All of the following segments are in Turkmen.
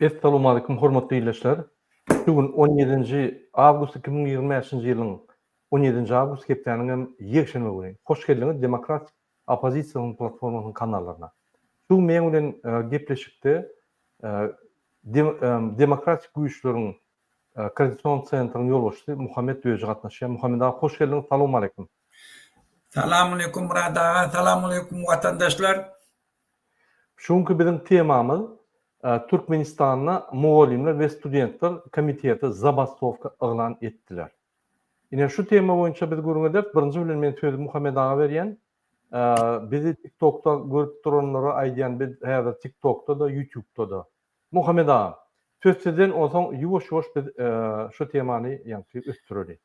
Essalamualeýkum hormatly ildeşler! Şu gün on ýedinji awgust iki müň ýigrimi bäşinji ýylyň on ýedinji awgust hepdäniň hem ýekşenbe güni. Hoş geldiňiz Demokratik Oppozisiýanyň Platformasynyň kanallaryna. Şu gün meň bilen gepleşikde Demokratik güýçleriň Koordinasion Centrynyň ýolbaşçysy Muhammet Öji gatnaşýar. Muhammet aga hoş geldiňiz, salawmaleýkum! Salam aleýkum Murad aga Salam aleýkum watandaşlar. Şu günki biziň temamyz Türkmenistanda mugallymlar we studentler komiteti zabastowka yglan etdiler. Ine şu tema boýunça biz gürrüň ederis. Birinji bilen men sözi Muhammet aga berýän. Bizi TikTokda görüp duranlara aýdýan biz häzir TikTokda da YouTubda da. Muhammet aga söz sizden onsoň ýuwaş-ýuwaş biz şu temany ýaňky ösdüreli.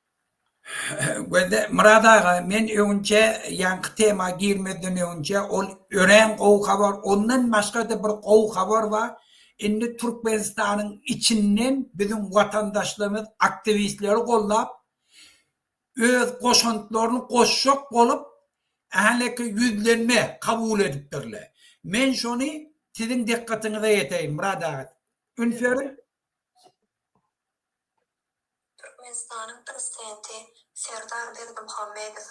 Murad aga men öňinçe ýaňky tema girmezden öňinçe ol örän gowy habar ondan başgada bir gowy habar bar indi Türkmenistanyň içinden biziň watandaşlarymyz aktiwistleri gollap öz goşantlaryny goşjak bolup häleki ýüzlenme kabul edipdirler men şony siziň dykgatyňyza ýeteýin Murad aga üns beriň. Türkmenistanyň Prezidenti Serdar Berdimuhamedow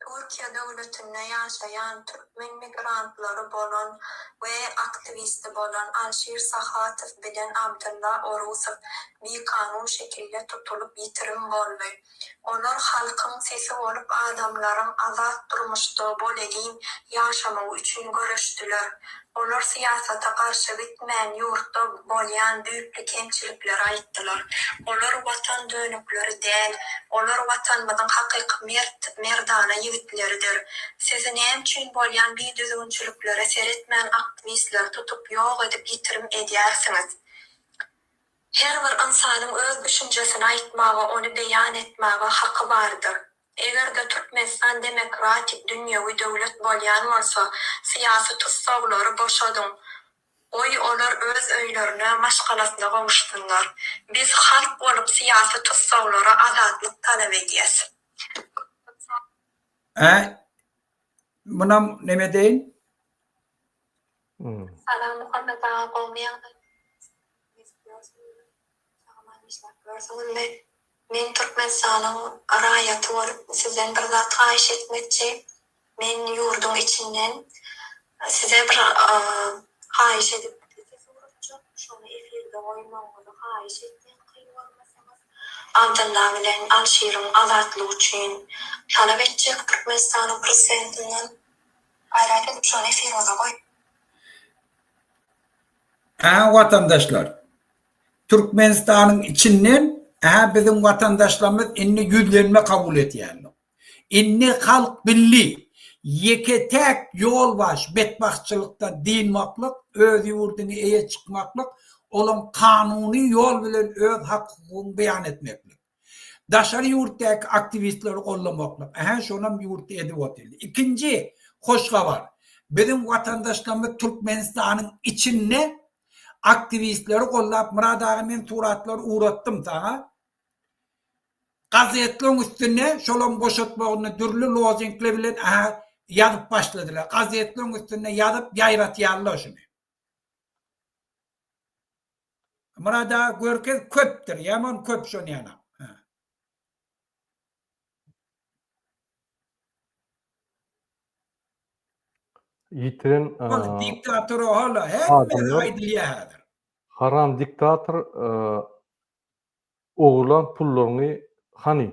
Türkiýe döwletinde ýaşaýan türkmen migrantlary bolan we aktiwisti bolan Alşir Sahatow bilen Abdylla Orusow bikanun şekilde tutulyp ýitirim boldy. Olar halkyň sesi bolup adamlaryň azat durmuşda bolelin ýaşamagy üçin göreşdiler. Olar syýasata garşy gitmän, ýurtda bolýan düýpli kemçilikleri aýtdylar. Olar Watan dönükleri däl. Olar Watanymyzyň hakyky mert, merdana ýigitleridir. Sizi näme üçin bolýan bidüzgünçiliklere seretmän aktiwistleri tutup ýok edip ýitirim edýärsiňiz? Her bir ynsanyň öz düşünjesini aýtmaga, ony beýan etmäge haky bardyr. Eger-de Türkmenistan demokratik dünýewi döwlet bolýan bolsa, syýasy tussaglary boşadyň, goý, olar öz öýlerine, maşgalasyna gowuşsynlar. Biz halk bolup syýasy tussaglara azatlyk talap edýäs. Äý, munam neme deýin? Salam Muhammet aga gowmy ýagdaýyňyz sagam-aman işläp ýörsüňizmi men Türkmenistanyň raýaty bolup sizden bir zat haýyş etmekçi men ýurduň içinden size bir haýyş edip ses urupjyk şony efirde goýmagyňyzy haýyş etýän kyn görmeseňiz Abdylla bilen Alşyryň azatlygy üçin talap etjek Türkmenistanyň prezidentinden. Gaýrat edip şony efiryňyza goýuň. Hä watandaşlar Türkmenistanyň içinden hä biziň watandaşlarymyz indi ýüzlenme kabul etýändir. Indi halk bildi ýeke täk ýolbaş betbagtçylykdan dynmaklyk öz ýurdyňy eýe çykmaklyk olaň kanuny ýol bilen öz hak hukugyňy beýan etmeklik. Daşary ýurtdaky aktiwistleri goldamaklyk, ähä şonam ýurtda edip otyrdy. Ikinji hoş habar, biziň watandaşlarymyz Türkmenistanyň içinde aktiwistleri goldap, Myrat aga men suratlary ugratdym saňa, gazetleriň üstünde şolaryň boşatmagyny dürli lozingler bilen ähä ýazyp başladylar. Gazetleriň üstünde ýazyp ýaýratýarlar şuny. Murad aga görkez köpdir ýaman köp şonýana. Ýitiren diktator hala hemme aýdylýar häzir. Haram diktator ogurlan pullaryňy hany?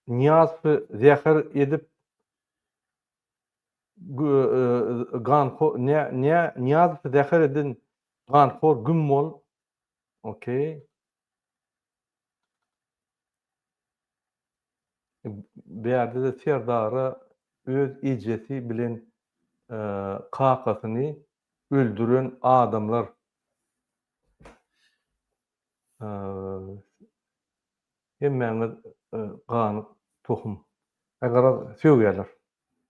Niýazowy zäher edip ganho ne ne niýazow zäher edin ganhor güm bol okey bärde de serdara öz ejesi bilen kakasyny öldüren adamlar Hemmäňiz ganyk tohum. He garaz sögýärler.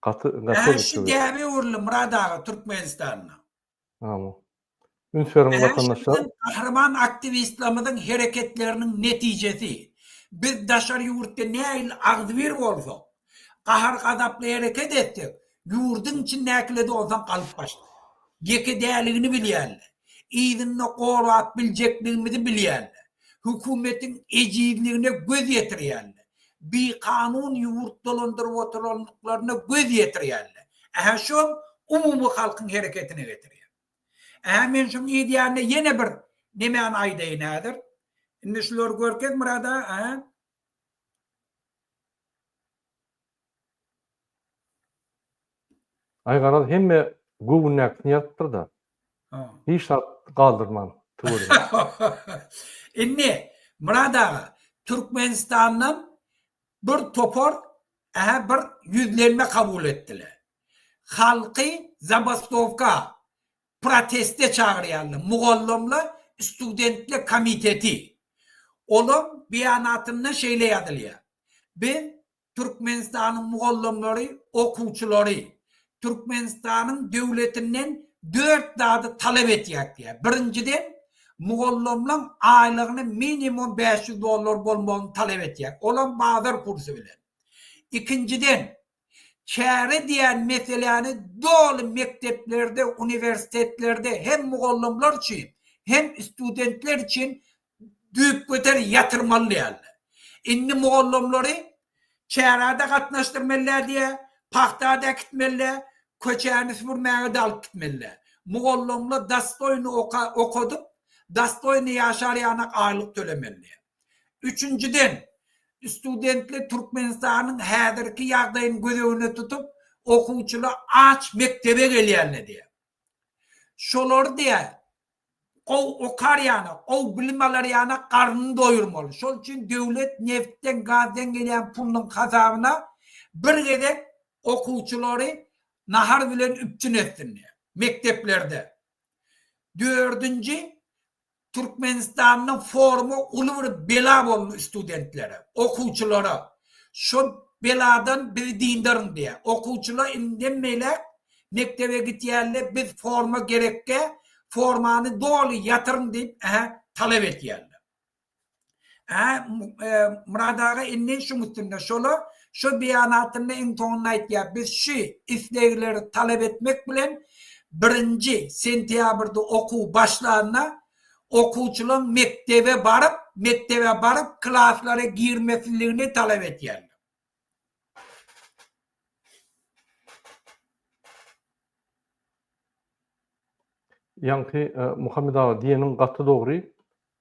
Gaty gaty. Şu däbe öwrüldi Murad aga Türkmenistanda. Amin. Üns beriň watandaşlar. Biziň gahryman aktiwistlerimiziň hereketleriniň netijesi. Biz daşary ýurtda nähili agzybir bolsak, Gahar-gazaply hereket etsek, ýurduň içindäkilerde onsoň galyp başlar. Ýekedäligini bilýärler. Yzynda gorap biljekligimizi bilýärler. Hökümetiň ejizligine göz ýetirýärler. Bikanun ýurt dolandyryp oturandyklaryna göz ýetirýärler. Ähä şom umumy halkyň hereketine getirýär. Ähä men şoň yzýanyna ýene bir nemäni aýdaýyn häzir. Indi şulary görkezmir-ä-da, ä? Aý garaz hemme göwündäkisini ýazypdyr-da. Hiç zat galdyrman tüweleme. Indi Myrat aga Türkmenistandan bir topar ähä bir ýüzlenme kabul etdiler. Halky zabastowka Proteste çagyrýarlar. Mugallymlar studentler komiteti. Olaň beýanatynda şeýle ýazylýar, Biz Türkmenistanyň mugallymlary, okuwçylary Türkmenistanyň döwletinden dört zady talap etýäk diýýär. Birinjiden, mugallymlaň aýlygyny minimum bäş ýüz dollar bolmagyny talap etýäk, olam bazar kursy bilen. Ikinjiden, Çäre diýen meseläni doly mekdeplerde, uniwersitetlerde hem mugallymlar üçin, hem studentler üçin düýpgöter ýatyrmaly däldir. Indi mugallymlary çärä-de gatnaşdyrmelidä diýýä, pagta-da äkitmelidä, köçäni süpürmäge-de alyp gitmelidä. Mugallymlar dostoýny okadyp, dostoýny ýaşar ýanak aýlyk tölemelidä. Üçünjiden, studentler Türkmenistanyň häzirki ýagdaýyny göz öňünde tutup, okuwçylar aç mekdebe gelýänler diýýär. Şolary diýýär, gowy okar ýaly, gowy bilim alar ýaly garnyny doýurmaly. Şol üçin döwlet neftden, gazdan gelýän pulunyň hasabyna bir gezek okuwçylary nahar bilen üpjün etsin diýýär mekdeplerde. Dördünji, Türkmenistanda forma uly bir bela boldy studentlere, okuwçylara. Şo beladan bizi dyndaryň diýýär. Okuwçylar indiden beýläk mekdebe gitýärler, biz forma gerekge, formany doly ýatyryň diýip, ähä, talap etýärler. Hä, Murad aga indi şuň üstünde şola şu beýanatynda iň soňunda aýtýar, biz şu islegleri talap etmek bilen birinji sentýabrda okuw başlanda okuwçylaryň mekdebe baryp, mekdebe baryp klaslara girmesliligini talap edýärler. Ýaňky Muhammet aga diýeniň gaty dogry.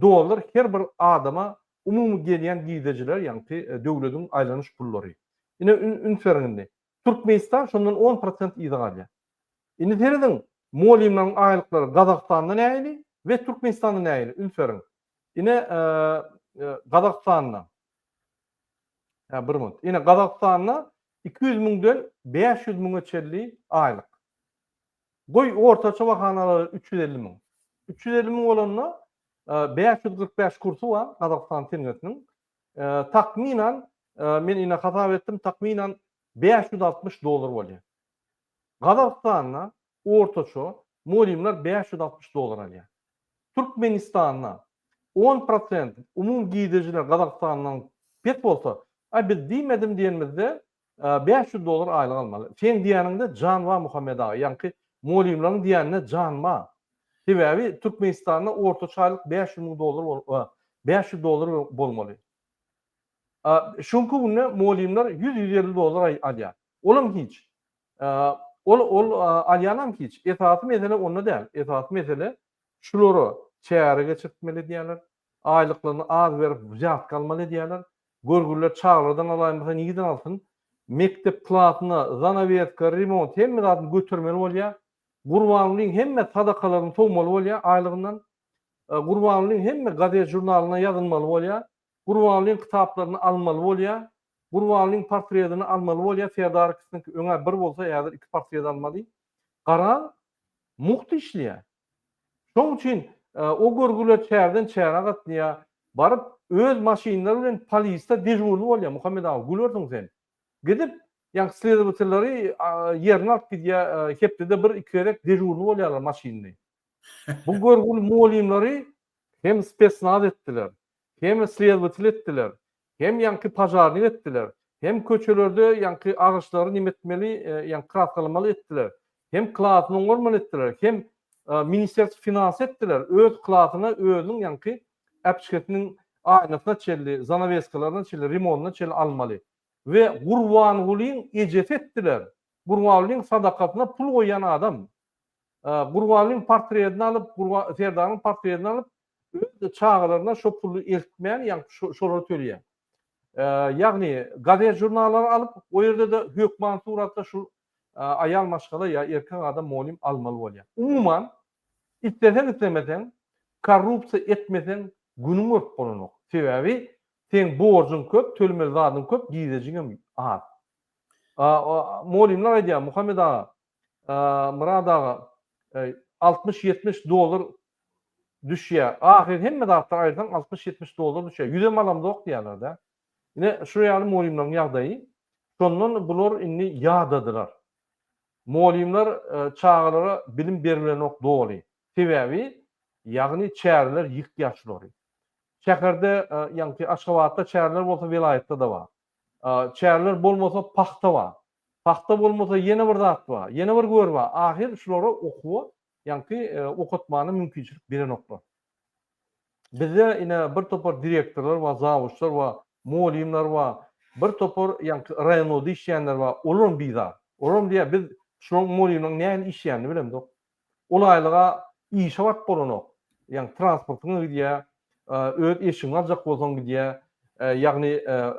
Dollar her bir adama umumy gelýän girdejilere ýagty döwlediň aýlanyş pullary. Ine üns beriň indi. Türkmenistan şondan on prosent yza galýar. Indi serediň molymlaryň aýlyklary Gazagystanda nähili we Türkmenistanda nähili üns beriň. Ine Gazagystanda. Hä bir minut. Ine Gazagystanda iki ýüz müňden bäş ýüz müňe çenli aýlyk. Goý, ortaça bahanalary üç ýüz elli müň. Üç ýüz elli müň bolanda, bäş ýüz kyrk bäş kursy bar Gazagystan tengesiniň. Takmynan, men ine hasap etdim, takmynan bäş ýüz altmyş dollar bolýar. Gazagystanda ortaça mugallymlar bäş ýüz altmyş dollar alýar. Türkmenistanda on prosent umumy girdejiler Gazagystandan pes bolsa, a biz diýmedim diýenimizde, Bäş ýüz dollar aýlyk almaly. Seň diýäniňde jan bar Muhammet aga, ýaňky molýumlaryň diýäninde jan bar. Sebäbi Türkmenistanda ortaça aýlyk bäş ýüz müň dollar bolup, bäş ýüz dollar bolmaly. Şonky günde molýumlar ýüz, ýüz elli dollar alýar. Olam hiç. Ol, ol alýanam hiç. Esasy mesele onda däl. Esasy mesele şulara çäre geçirtmeli diýýärler. Aýlyklaryny az berip wzýatka almaly edýärler. Görgüliler çagalardan alaýmasa nireden alsyn. Mekdep klasyna zanawýeska, remont hemme zadyny götermeli bolýar. Gurbangulyň hemme sadakalaryny sowmaly bolýar aýlygyndan. Gurbangulyň hemme gazet-žurnalyna ýazylmaly bolýar. Gurbangulyň kitaplaryny almaly bolýar. Gurbangulyň portredini almaly bolýar. Serdar ikisiniňki öňä bir bolsa häzir iki portret almaly. Garaň, mugt işleýär. Şoň üçin o görgüler çärden çäre gatnaýar, baryp öz maşynlary bilen polisde dežurny bolýar Muhammet aga, gülersiň sen. Gidip, ýa sledowatelleri ýerine alyp gidýär, hepdede bir iki gezek dežurny bolýarlar maşynly. Bu görgüli mugallymlary hem spesnaz etdiler, hem sledowatel etdiler, Hem ýaňky pažarnik etdiler, hem köçelerde ýaňky agyşlary nemetmeli, ýaňky kraskalamaly etdiler, hem klasyny oňarman etdiler, hem ministerstw finansy etdiler, öz klasyna özüniň ýaňky äpçgesiniň aýnasyna çenli, zanaweskalaryna çenli, remonyna çenli almaly. We Gurbangulyň ejesi etdiler. Gurbangulyň sadakasyna pul goýýan adam. Gurbanlyň portredini alyp, Serdaryň portredini alyp, Öz-de çagalaryna şo puly eltmän, ýagny şolara töleýär. Ýagny gazet-žurnallary alyp, o ýerde-de hökmany suratda şu aýal maşgala ýa erkek adam molim almaly bolýar. Umuman, isleseň-islemeseň, korrupsiýa etmeseň, günüň görüp bolanok. Sebäbi seň borjuň köp, tölemeli zadyň köp, gizejiňem az. Molimler aýdýar, Muhammet aga, Murad aga, altmyş, ýetmiş dollar düşýär. Ahyry hemme zatlar aýyrsaň altmyş, ýetmiş dollar düşýär. Ýüzem alamzok diýýärler-dä. Ine, şu ýaly mugallymlaryň ýagdaýy. Şondan bular indi ýadadylar. Mugallymlar çagalara bilim berilenok doly. Sebäbi, ýagny çäreler ýykýar şulary. Şäherde, ýagny Aşgabatda çäreler bolsa welaýatda-da bar. Çäreler bolmasa pagta bar. Pagta bolmasa ýene bir zat bar. Ýene bir gör bar. Ahyr şulara okuwa, ýaňky okatmana mümkinçilik berenoklar. Bizde ine bir topar direktorlar bar, zawuçlar bar, mugallymlar bar. Bir topar ýaňky raýonlarda işleýänler bar. Olar hem bizar. Olar hem diýýär, biz şularyň mugallymlaryň nähili işleýänini bilemzok. Ol aýlyga işe baryp bolanok. Ýagny transportyňa gidýä, öz eşigiňi aljak bolsaň gidýä, ýagny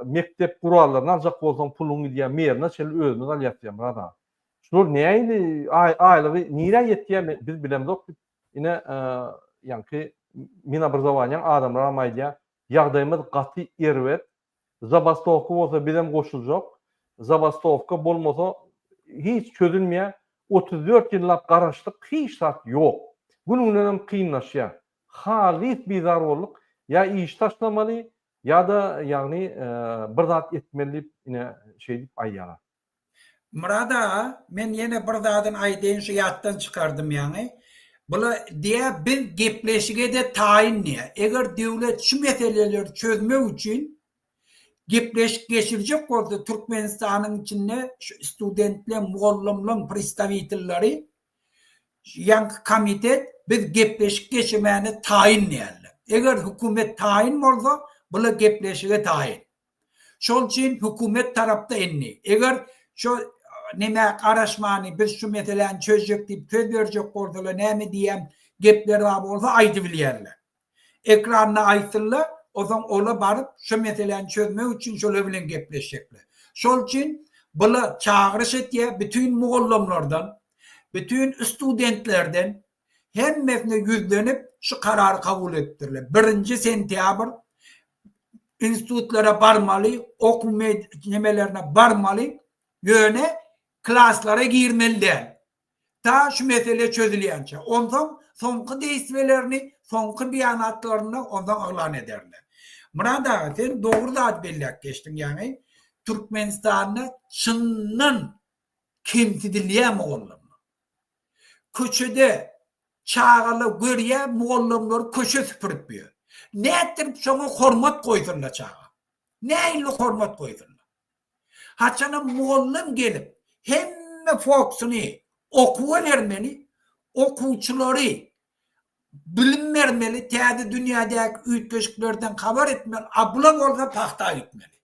mekdep gurallaryny aljak bolsaň puluň gidýä, merine çenli özümiz alýas diýýä Myrat aga. Şular nähili aýlygy nirä ýetýä biz bilemzok diýip ine ýaňky Minobrazowaniýaň adamlaram aýdýa, ýagdaýymyz gaty erbet, Zabastowka bolsa bizem goşuljak. Zabastowka bolmasa hiç çözülmeýär. Otuz dört ýyllap garaşdyk, hiç zat ýok. Gün-günenem kynlaşýar. Halys bizar bolduk. Ýa işi taşlamaly, ýa-da ýagny bir zat etmeli diýip ine şeýdip aýýarlar. Myrat aga men ýene bir zadyn aýdaýyn şu ýatdan çykardym ýaňy. Bula diýä biz gepleşigede taýyn diýä. Eger döwlet şu meseleleri çözmek üçin gepleşik geçirjek bolsa Türkmenistanyň içinde şu studentleň mugallymlaň pristawitelleri ýaňky komitet biz gepleşik geçirmäne taýyn diýerler. Eger hökümet taýyn bolsa bula gepleşige taýyn. Şol üçin hökümet tarapda indi, eger şo neme garaşmany biz şu meseläni çözjek diýip söz berjek bolsalar näme diýýän gepleri bar bolsa aýdybilýärler. Ekranda aýtsynlar, ozaň ola baryp şo meseläni çözmek üçin şolar bilen gepleşjekler. Şol üçin bula çagyryş etýär, bütin mugallymlardan, bütin studentlerden hemmesine ýüzlenip, şu karary kabul etdirler. Birinji sentýabr institutlara barmaly, okuw nemelerine barmaly, ýöne klaslara girmeli däl. Ta şu mesele çözülýänçä. Onsoň soňky deýsbelerini, soňky beýanatlaryny onsoň yglan ederler. Murad aga, sen dogry zat belläp geçdiň, ýagny Türkmenistanda çyndan kemsidilýär mugallym. Köçede çagalar görýär, mugallymlar köçe süpürip ýör. Nätdirip şoňa hormat goýsunlar çaga? Näinli hormat goýsunlar? Haçanam mugallym gelip, hemme fokusyny okuwa bermeli, okuwçylary bilim bermeli, täze dünýädäki üýtgeşiklerden habar etmeli, abla bolsa pagta gitmeli.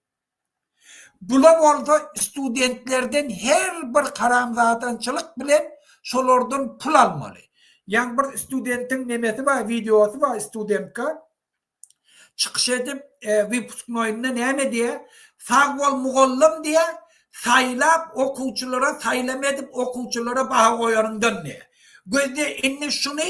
Bula bolsa studentlerden her bir haramzadançylyk bilen şolardan pul almaly. Ýaňy bir studentiň nemesi bar, wideosy bar studentka çykyş edip wypusnoýynda näme diýýär, Sag bol mugallym diýýär, saýlap okuwçylara saýlama edip okuwçylara baha goýanyňdan diýýär. Gözle indi şuny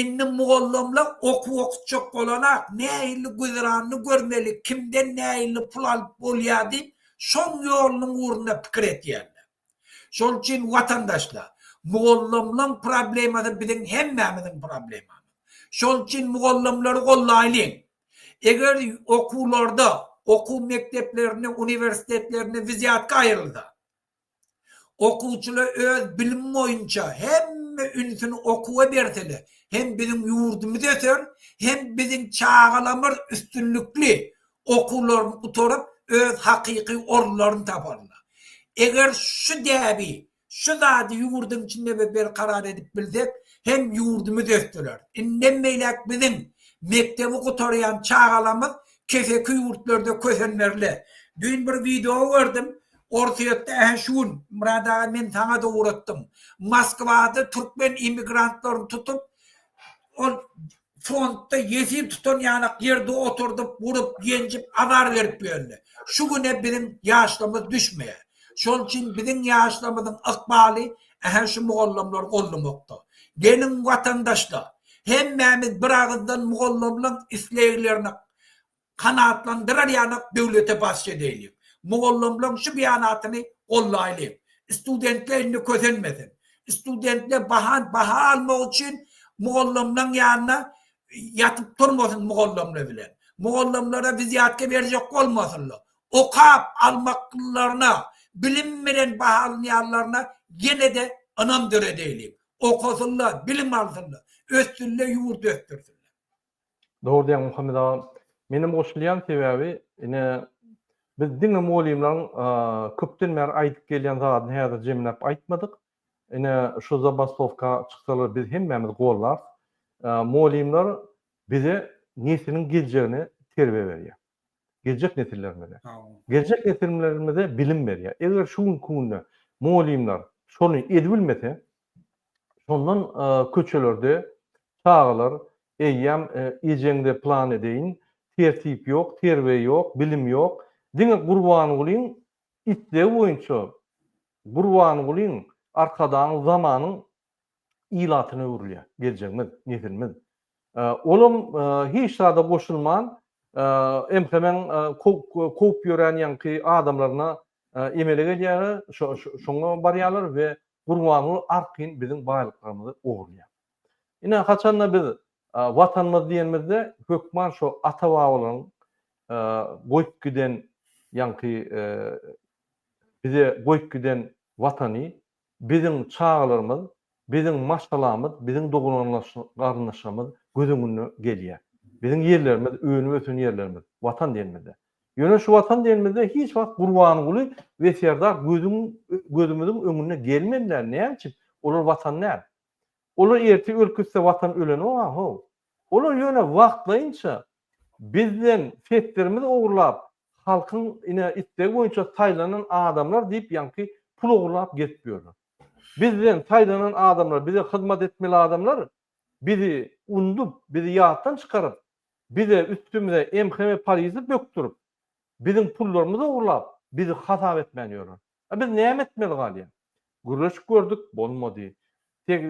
Indi mugallymlar okuw okutjak bolanak, nähili güzeranyny görmeli, kimden nähili pul alyp bolýar diýip, şoň ýolunyň ugrunda pikir etýärler. Şol üçin, watandaşlar, mugallymlaryň problemasy biziň hemmämiziň problemamyz. Şol üçin mugallymlary gollaýlyň. Eger okuwlarda, okuw mekdeplerinde, uniwersitetlerinde wizýatka aýrylsa, Okuwçylar öz bilim boýunça hemme ünsüni okuwa berseler, hem biziň ýurdumyz öser, hem biziň çagalarymyz üstünlikli okuwlaryny gutaryp, öz hakyky orunlaryny taparlar. Eger şu däbi, şu zady ýurduň içinde we berkarar edip bilsek, hem ýurdumyz ösdürer. Indem beýläk biziň mekdebi gutarýan çagalarymyz keseki ýurtlarda kösenmerler. Düýn bir wideo gördüm, Orsýetde ähe şu gün, Murad aga men saňa-da ugratdym. Moskwada türkmen emigrantlaryny tutup, ol frontda ýesir tutan ýalak ýerde oturdyp, urup, ýenjip, azar berip ýörler. Şu güne biziň ýaşlarymyz düşmeýär. Şonuň üçin biziň ýaşlarymyzyň ykbaly ähe şu mugallamlary goldamakda. Geliň watandaşlar, hemmämiz bir agyzdan mugallamlaň isleglerine Kanagatlandyrar ýanak döwlete basş edäýliň. Mugallymlaň şu beýanatyny gollaýlyň. Studentler indi kösenmesin. Studentler bahan baha almak üçin mugallymlaň ýanyna ýatyp turmasyn mugallymlar bilen. Mugallymlara wizýatka berjek bolmasynlar. Okap almaklylaryna, bilim bilen bahalanýanlaryna ýene-de ynam döredäýliň. Okasynlar, bilim alsynlar. Össünler, ýurt ösdürsinler. Dogry diýýäň Muhammet aga. Menem goşulýan sebäbi ine biz diňe mugallymlaryň köpden bäri aýdyp gelýän zadyny häzir jemläp aýtmadyk. Ine şu zabastowka çyksalar biz hemmämiz gollarys. Mugallymlar bize nesliň geljegine terbiýe berýär. Geljek nesillerimize. Geljek nesilmlerimize bilim berýär. Eger şu günki günde mugallymlar şony edibilmese Şondan köçelerde çagalar eýýäm ejeňde plan edeýin, tertip ýok, terbiýe ýok, bilim ýok. Diňe Gurbangulyň islegi boýunça Gurbangulyň Arkadagyň zamanyň ilatyna öwrülýär geljegimiz, nesilimiz. Olam hiç zada goşulman, MHM-iň kowup ýören ýaňky adamlaryna emele gelýär, şoňa barýarlar we Gurbanguly arkaýyn biziň baýlyklarymyzy ogurlaýar. Ine, haçan-da biz Watanymyz diýenimizde, hökman şo ata-babalaryň goýup giden ýaňky bize goýup giden Watany Biziň çagalarymyz, biziň maşgalamyz, biziň dogan-garyndaşlarymyz göz öňüne gelýär. Biziň ýerlerimiz, önüp-ösen ýerlerimiz, Watan diýenimizde. Ýöne şu Watan diýenimizde hiç wagt Gurbanguly we Serdar gözüň gözümiziň öňüne gelmediler, näme üçin? Olar Watan däl. Olar ertir ölüp gitse Watan ölenok a-how. Olar ýöne wagtlaýynça bizden setlerimizi ogurlap, Halkyň ine islegi boýunça saýlanan adamlar diýip ýaňky pul ogurlap gezip ýörler. Bizden saýlanan adamlar bize hyzmat etmeli adamlar bizi undup bizi ýatdan çykaryp bize üstümize MHM polisi bökdürip biziň pullarymyzy ogurlap bizi hasap etmän ýörler. A biz näme etmeli galýa? Gürleşip gördük, bolmady. Teg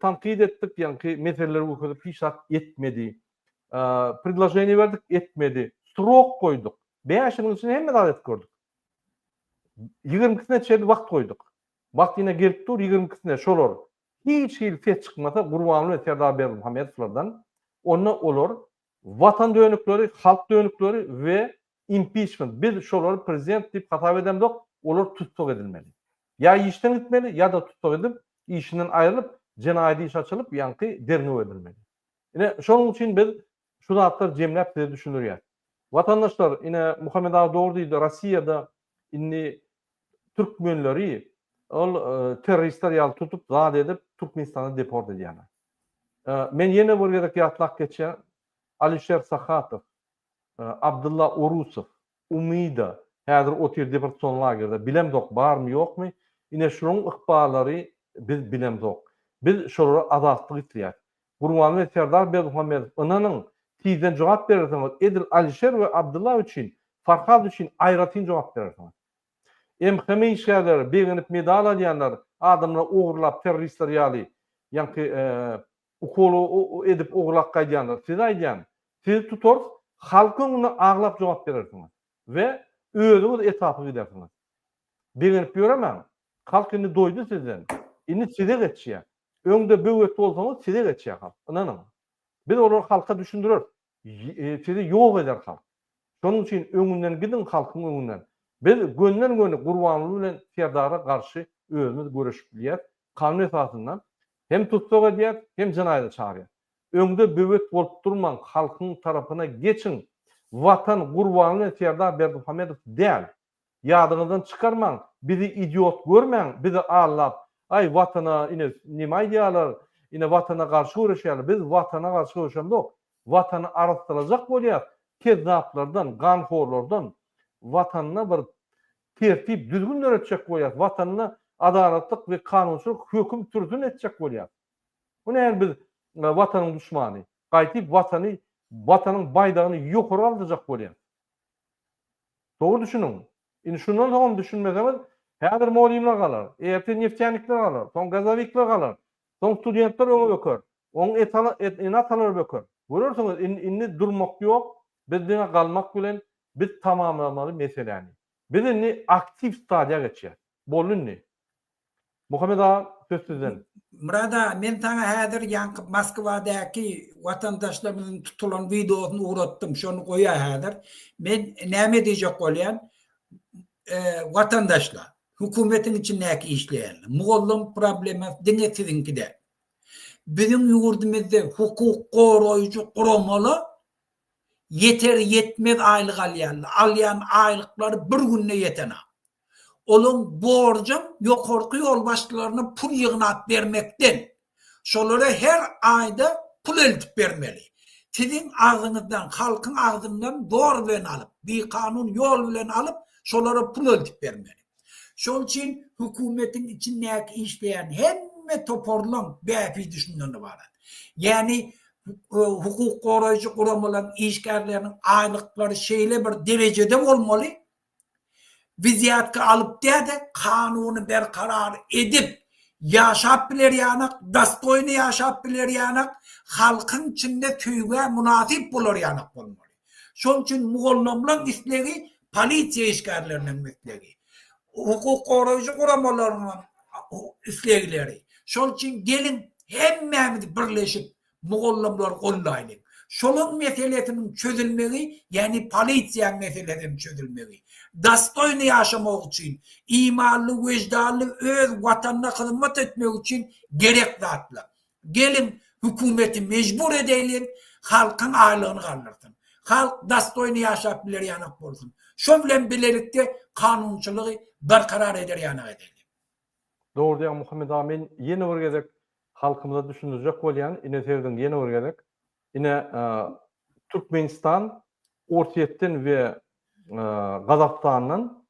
tankyt etdik, ýaňky meseleleri görkezip hiç zat etmedi. Predloženiýe berdik, etmedi. Srok goýduk. Bäş ýylyň içinde hemme zady edip gördük. Ýigirmikisine çenli wagt goýduk. Wagt ýene gelip dur, ýigirmikisine şolar hiç hili ses çykmasa Gurbanguly Serdar Berdimuhamedowlardan, onda olar Watan dönükleri, halk dönükleri we impiçment, biz şolary prezident diýip hasap edemzok, olar tussag edilmeli. Ýa işden gitmeli, ýa-da tussag edip, işinden aýrylyp, jenaýat iş açylyp, ýaňky derňew edilmeli. Ine, şonuň üçin biz şu zatlary jemläp size düşündirýäs. Watandaşlar, ine, Muhammet aga dogry diýdi, Rossiýada indi türkmenleri ol terroristler ýaly tutup, zat edip, Türkmenistana deport edýärler. Men ýene bir gezek ýatlap geçýän, Alişer Sahatow, Abdylla Orusow, Umida, häzir otyr Deportsion lagerde, bilemzok barmy ýokmy, ine şularyň ykballary biz bilemzok. Biz şolara azatlyk isleýäs. Gurbanly Serdar Berdimuhamedow ynanyň sizden jogap berersiňiz edil Alişer we Abdylla üçin, Farhad üçin aýratyn jogap berersiňiz. MHM işgärleri begenip medal alýanlar adamlar ogurlap terroristler ýaly ýaňky ukol edip ogurlap gaýdýanlar size aýdýan sizi tutarys halk öňünde aglap jogap berersiňiz we özüňiz etapy gidersiňiz begenip ýöremäň halk indi doýdy sizden indi size geçýä öňde böwet bolsaňyz size geçýä halk ynanyň biz olary halka düşündireris. Sizi ýok eder halk. Şonuň üçin öňünden gidiň halkyň öňünden. Biz gönden göni Gurbanguly bilen Serdara garşy özümiz göreşip bilýäs, kanun esasynda hem tussag edýäs, hem jenaýada çagyrýas. Öňde böwet bolup durmaň halkyň tarapyna geçiň. Watan Gurbanguly bilen Serdar Berdimuhamedow däl. Ýadyňyzdan çykarmaň, bizi idiot görmäň, bizi allap, aý watana ine neme aýdýalar, ine watana garşy göreşýaler, biz watana garşy göreşemzok, watany arassalajak bolýas, kezzaplardan, ganhorlardan, watanda bir tertip düzgün döretjek bolýas, watanda adalatlyk we kanunçylyk höküm sürsün etjek bolýas. Bu näl biz watanyň duşmany, gaýtyp watany, watanyň baýdagyny ýokary galdyrjak bolýas. Dogry düşüniň. Indi şundan soňam düşünmeseňiz, häzir molimler galar, ertir neftýanikler galar, soň gazowikler galar, soň studentler öňe böker, oň ene-atalary böker. Görersiňiz, indi durmak ýok, biz diňe galmak bilen, biz tamamlamaly meseläni. Biz indi aktiw stadiýa geçýäs. Boldy indi. Muhammet aga söz sizden. Myrat aga men saňa häzir ýaňky Moskwadaky watandaşlarymyzyň tutulan wideosyny ugratdym şony goýa häzir. Men näme diýjek bolýan watandaşlar hökümetiň içindäki işleýänler mugallym problemasy diňe siziňki däl. Biziň ýurdumyzda hukuk goraýjy guramalar ýeter ýetmez aýlyk alýarlar. Alýan aýlyklary bir günde ýetenok. Olaň borjam ýokarky ýolbaşçylaryna pul ýygnap bermekden. Şolara her aýda pul eltip bermeli. Siziň agzyňyzdan, halkyň agzyndan zor bilen alyp, bikanun ýol bilen alyp, şolara pul eltip bermeli. Şol üçin hökümetiň içindäki işleýän hemme toparlaň bähbidi şundan ybarat. Ýani hukuk goraýjy guramalaryň işgärleriniň aýlyklary şeýle bir derejede bolmaly, Wizýatga alyp däde kanuny berkarar edip ýaşap bilerýanak dastoýny ýaşap bilerýanak halkyň içinde söýgä mynasyp bolarýanak bolmaly şol üçin mugallamlaň islegi polisiýa işgärleriniň islegi hukuk goraýjy guramalaryň islegleri şol üçin geliň hemmämiz birleşip Mugallymlary gollaýlyň. Şolaň meselesiniň çözülmegi ýagny polisiýaň meselesiniň çözülmegi. Dostoýny ýaşamak üçin, imanly weždanly öz watanyna hyzmat etmek üçin gerek zatlar. Geliň hökümeti mejbur edeýliň halkyň aýlygyny galdyrsyn. Halk dostoýny ýaşap biler ýanak bolsun. Şo bilen bilelikde kanunçylygy berkarar eder ýanak edeýliň. Dogry diýýäň Muhammet aga men ýene bir gezek halkymyza düşündirjek bolýan ine serediň ýene bir gezek ine Türkmenistan Orsýetden we Gazagystandan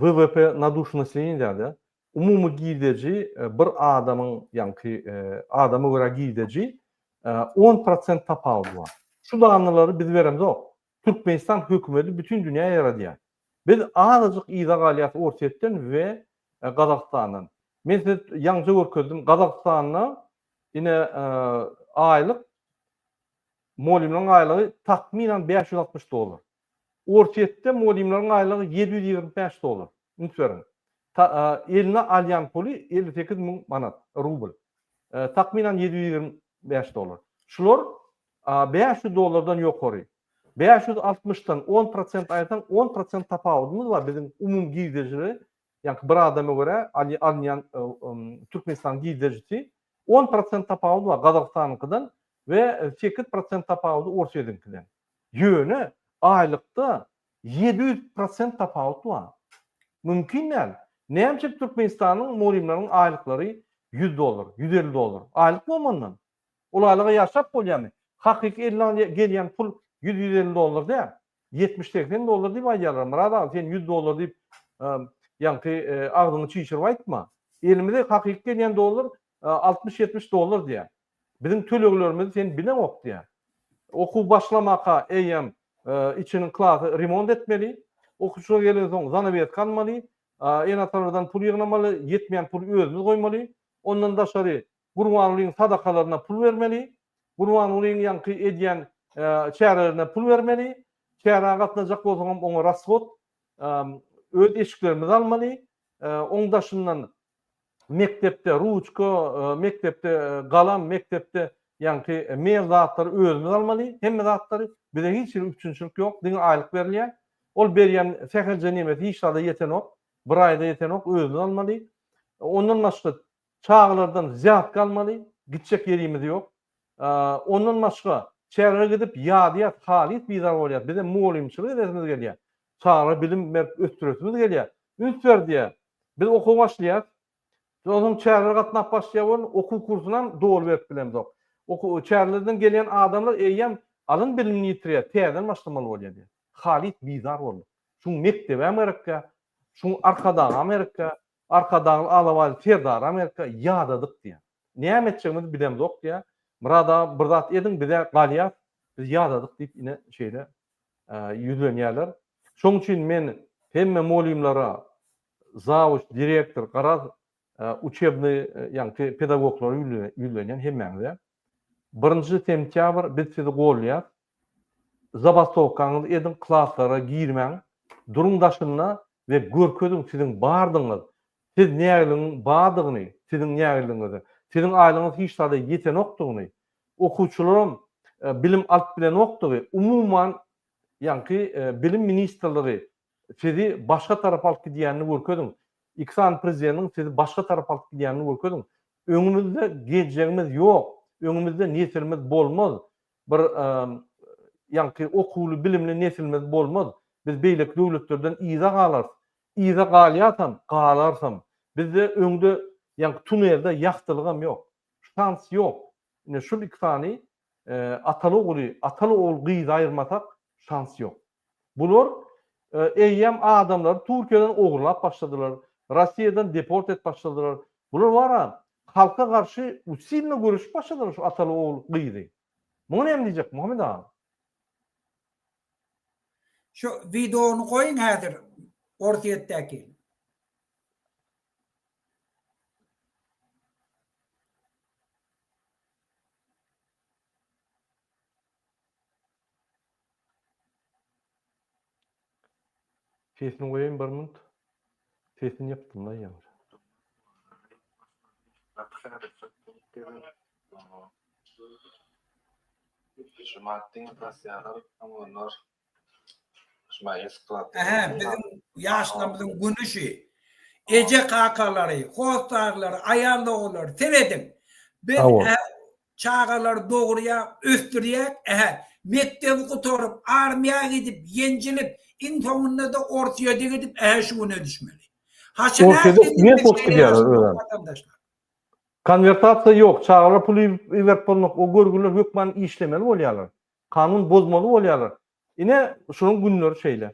WWP na duş nasileniýe diýýärdi umumy girdeji bir adamyň ýaňky adama görä girdeji on prosent tapawudy bar şu dannalary biz beremzok Türkmenistan hökümeti bütin dünýä ýaradýar. Biz azajyk yza galýas Orsýetden we Gazagystandan. Men size ýaňja görkezdim, Gazagystanda ine aýlyk molýumlaryň aýlygy takmynan bäş ýüz altmyş dollar. Orsýetde molýumlaryň aýlygy ýedi ýüz ýigrimi bäş dollar. Üns beriň. Eline alýan puly elli sekiz müň manat, rubl. Takmynan ýedi ýüz ýigrimi bäş dollar. Şular A bäş ýüz dollardan ýokary. Bäş ýüz altmyş dan on prosent aýyrsaň on prosent tapawudymyz bar biziň umumy girdejileri ýaňky bir adama görä alynýan türkmenistanyň girdejisi on prosent tapawudy bar gazagystanyňkydan we sekiz prosent tapawudy orsýetiňkiden ýöne aýlykda ýedi ýüz prosent tapawut bar mümkin däl näme üçin türkmenistanyň mugallymlarynyň aýlyklary ýüz dollar ýüz elli dollar aýlyk bolmandan Ulalyga ýaşap bolýamy? Hakyky eline al gelýän pul ýüz ýüz elli dollar däl. Ýetmiş segsen dollar diýip aýdýarlar. Myrat aga sen ýüz dollar diýip ýaňky agzyňy çişirip aýtma. Elimize hakyky gelýän dollar altmyş ýetmiş dollar diýýär. Biziň töleglerimizi sen bileňok diýýär. Okuw başlamaka eýýäm içiniň klasy remont etmeli. Okuwçylar gelensoň zanaweska almaly. Ene-atalardan pul ýygnamaly. Ýetmeýän puly özümiz goýmaly. Ondan daşary Gurbangulyň sadakalaryna pul bermeli, Gurbangulyň ýaňky edýän çärelerine pul bermeli, çärä gatnajak bolsaňam oňa rasgod öz eşiklerimizi almaly, oň daşyndan mekdepde ruçka, mekdepde galam, mekdepde ýaňky mebel zatlary özümiz almaly, hemme zatlary, bize hiç hili üpjünçilik ýok, diňe aýlyk berilýär. Ol berýän sähelje nemesi hiç zada ýetenok, bir aýda ýetenok, özümiz almaly. Ondan başga Çagalardan zýat galmaly, gitjek ýerimiz ýok. Ondan başga, çärelere gidip ýadýas, halys bizar bolýas. Bizem mugallymçylyk edesimiz gelýä. Çagalara bilim berip ösdüresimiz gelýä. Üns ber diýä. Biz okuwa başlaýas. Onsoň çärelere gatnap başlaýa bolun, okuw kursunam doly berip bilemzok. Okuw, çärelerden gelýän adamlar eýýäm alan bilimini ýitirýä, täzeden başlamaly bolýa diýä. Halys bizar bolduk. Şuň mekdebem gerekkä, şuň arkadagam gerekkä, Arkadagly alabaýly serdary Amerika ýadadyk diýýär. Näme etjegimizi bilemzok diýýär. Myrat aga bir zat ediň biz-ä galýas, biz ýadadyk diýip ine şeýle ýüzlenýärler. Şoň üçin men hemme molymlara, zawuç, direktor, garaz uçebny ýaňky pedagoglara ýüzlenýän hemmäňize. Birinji sentýabr biz sizi golýas. Zabastowkaňyzy ediň klaslara girmäň duruň daşynda we görkeziň siziň bardygyňyz siz nägiligiň badygyny siziň nägiligiňizi siziň aýlygyňyz hiç zada ýetenokdygyny okuwçylaram bilim alyp bilenokdygy umuman ýaňky bilim ministrligi sizi başga tarapa alyp gidýänini görkeziň iki sany prezideniň sizi başga tarapa alyp gidýänini görkeziň öňümizde geljegimiz ýok öňümizde nesilimiz bolmaz Bir ýaňky okuwly bilimli nesilimiz bolmaz. Biz beýleki döwletlerden yza galarys. Yza galýarsam, galarsam. Bizde öňde ýaňky tunelde ýagtylygam ýok. Şans ýok. Ine şul iki sany ataly ogly, ataly ogul gyzy aýyrmasak şans ýok. Bular eýýäm adamlary Türkiýeden ogurlap başladylar, Rossiýadan deport edip başladylar. Bular wara halka garşy usilno göreşip başladylar şu ataly ogul gyzy. Muňa näme diýjek Muhammet aga? Şu wideony goýuň häzir Orsýetdäki. Sesini goýaýyn bir minut. Sesini ýapdymda ýene. Ähä biziň ýaşlarymyzyň günüşi. Eje kakalary, hossarlary, aýal doganlary serediň. Biz Çagalary dogurýak, ösdürýäk, ähä, mekdebi gutaryp, armiýa gidip, ýenjilip, iň soňunda-da Orsýede gidip, ähä, şu güne düşmeli. Haçan ähli Orsýede ne bolup gidýärler özem? Watandaşlar. Konwertasiýa ýok, çagalar pul iberip bolmak, o görgüler hökman işlemeli bolýarlar. Kanun bozmaly bolýarlar. Ine, şonuň günleri şeýle.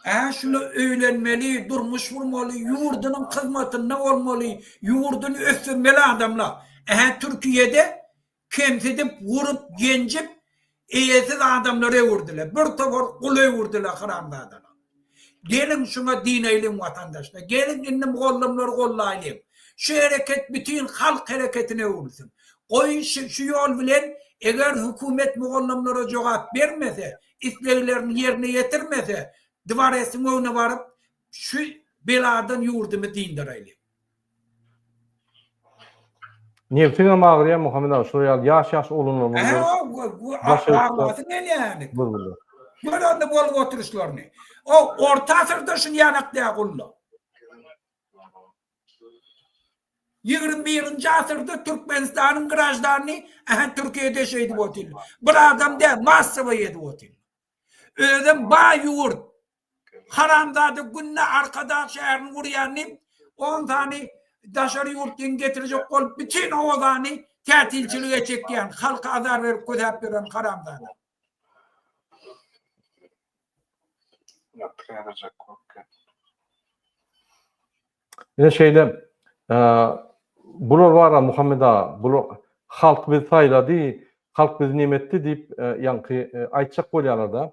Hä, şuna öýlenmeli, durmuş gurmaly, ýurdunyň hyzmatynda bolmaly, ýurduny ösdürmeli adamlar. Hä, Türkiýede kemsidip, urup, ýenjip, Eýesiz adamlar öwürdile bir towar gul öwürdile haramzadalar. Geliň şuňa diýneýliň watandaşlar geliň indi mugallymlary gollaýlyň şu hereket bütin halk hereketine öwrülsin. Goýun şi şu ýol bilen eger hökümet mugallymlara jogap bermese isleglerini ýerine ýetirmese dwaresiň öňüne baryp şu beladan ýurdymy dyndaraýlyň. Nebsiňem agyrýa Muhammet aga şular ýaly ýaş ýaş oglanlarymyzy görüp. Aglasyn gelýäni. Gör onda bolup oturyşlaryny. O orta asyrda şul ýanakda gulluk. Ýigrimi birinji asyrda Türkmenistanyň graždanyny ähä Türkiýede şeýdip otyr. Bir adam däl massawa edip otyr. Özem baý ýurt. Haramzada günde Arkadag şäherini urýan diýip on sany daşary ýurtdan getirjek bolup bütin obany tätilçilige çekýän halka azar berip kösäp ýören haramzada. Ine şeýle bular bar-a Muhammet aga, bular halk bizi saýlady, halk bizi neme etdi diýip ýaňky aýtjak bolýarlar-da.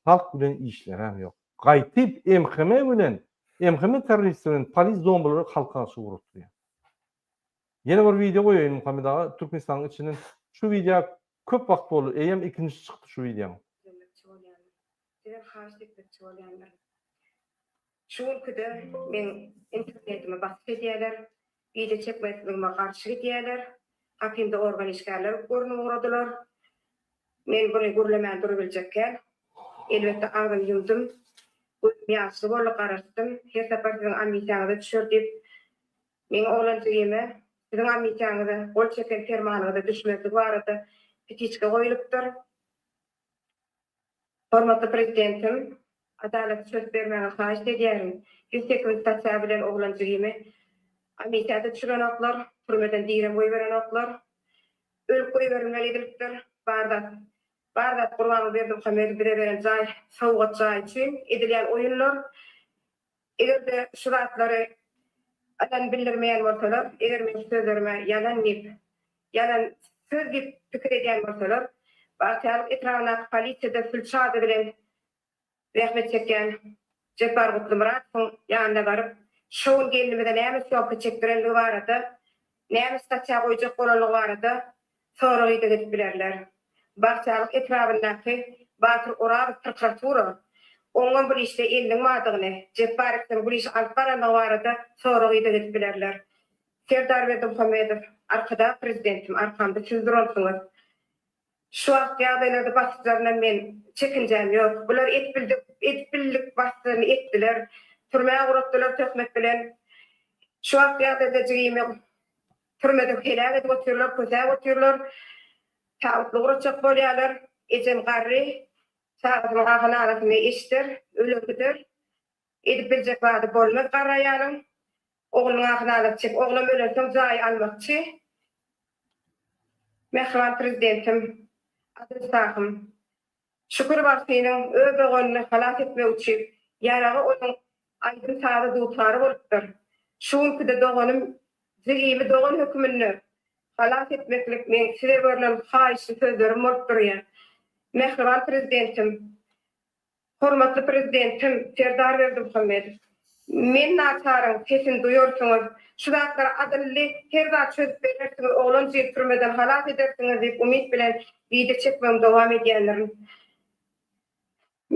Halk bilen işleräm ýok. Gaýtyp MHM bilen, MHM terroristi bilen polis zombilere halky garşy ugrukdyrýar. Ýene bir wideo goýaýyn Muhammet aga, Türkmenistanyň içinden şu wideo köp wagt boldy, eýýäm ikinjisi çykdy şu wideonyň. Sizden haýyşt etmekçi bolýandyr. Şu günkidir meň internetimi basyp edýäler, wideo çekmezligime garşy gidýäler, gapymda organ işgärler görnüp ugradylar. Men buny gürlemän durubiljekkäm, elbetde agzymy ýumdum. Gözüm ýaşly boldy, garaşdym. Her sapar siziň amisiýaňyza düşer diýip, meň oglanjygime siziň amisiýaňyza gol çeken permanyňyza düşmezligi barada petiçka goýlupdyr. Hormatly Prezidentim, Adalat çöz bermäge haýyşt edýärin, ýüz sekiz statýa bilen oglan jigimi amisiýada düşürenoklar, türmeden direm goýberenoklar. Ölüp goýberilmeli edilipdir. Bar zat, bar zat Gurbanguly Berdimuhamedow bize beren jaý, sowgat jaý üçin edilýän oýunlar. Eger-de şu zatlary ýalan bildirmeýän bolsalar, eger meň şu sözlerime ýalan diýip, ýalan söz diýip pikir edýän bolsalar, Bagtyýarlyk etrabyndaky polisiýada sülçi ady bilen zähmet çekýän Jepbar Gutlymyradowyň ýanyna baryp, şo gün gelnimize näme sýomka çekdirendigi barada, näme statiýa goýjak bolanlygy barada Soragy-da edip bilerler. Bagtyýarlyk etrabyndaky Batyr Orazow prokuratura oňňam bir işde eliniň bardygyny, Jepbar Ekderiň bir işi alyp barandygy barada soragy-da edip bilerler. Serdar Berdimuhamedow, Arkadag Prezidentim, arkamda siz duransyňyz. Şu wagt ýagdaýlarda basyşlaryndan men çekinjäm ýok. Bular edip bildik, edip bildik basyşlaryny etdiler. Türmä guratdylar töhmet bilen. Şu wagt ýagdaýda jigimi. Türmede heläk edip otyrlar, kösäp otyrlar. Tabutly guratjak bolýarlar. Ejem garry. Çagasynyň ahy-nalasyny eşider, öler gider. Edip biljek zady bolmaz garry aýalyň. Oglunyň ahy-nalasy çek. Oglam ölensoň jaý almakçy. Mähriban Prezidentim, Adylşahym! Şükür bagtynyň öz doganyny halas etmek üçin ýaragy onuň aýdym-sazy dutary bolupdyr. Şu günki-de doganym jigimi dogan höküminde halas etmeklik meň size görlen haýyşly sözlerim bolup durýar. Mähriban Prezidentim, hormatly Prezidentim Serdar Berdimuhamedow! Men naçaryň sesini duýarsyňyz. Şu zatlary adylly her zat çözüp berersiňiz, oglanjygy türmeden halas edersiňiz diýip umyt bilen wideo çekmegimi dowam edýändirin.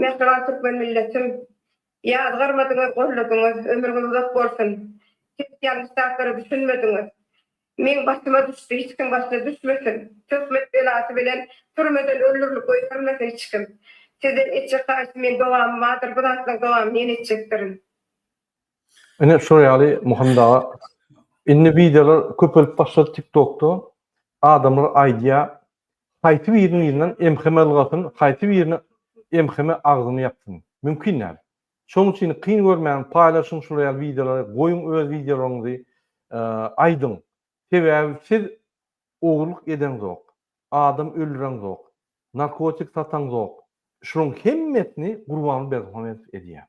Mähriban türkmen milletim! Ýazgarmadyňyz, golladyňyz. Ömrüňiz uzak bolsun! Siz ýalňyş zatlara düşünmediňiz. Meň batyma düşdi, hiç kim batyna düşmesin. Töhmet belasy bilen türmeden öldürilip goýbermesin hiç kim. Sizden etjek haýyşym men dogamy bardyr, bu zatlaň dogamy men etjekdirin. Ine şo ýaly Muhammet aga. Indi wideolar köpelip başlady tik tokda. Adamlar aýdýa haýsy biriniň yzyndan MHM ylgasyn, haýsy biriniň MHM agzyny ýapsyn. Mümkin däl. Şoň üçin kyn görmäň paýlaşyň şular ýaly wideolary goýuň öz wideolaryňyzy aýdyň sebäbi siz ogurlyk edeňzok adam öldüreňzok narkotik sataňzok şulaň hemmesini gurbanguly berdimuhamedow edýä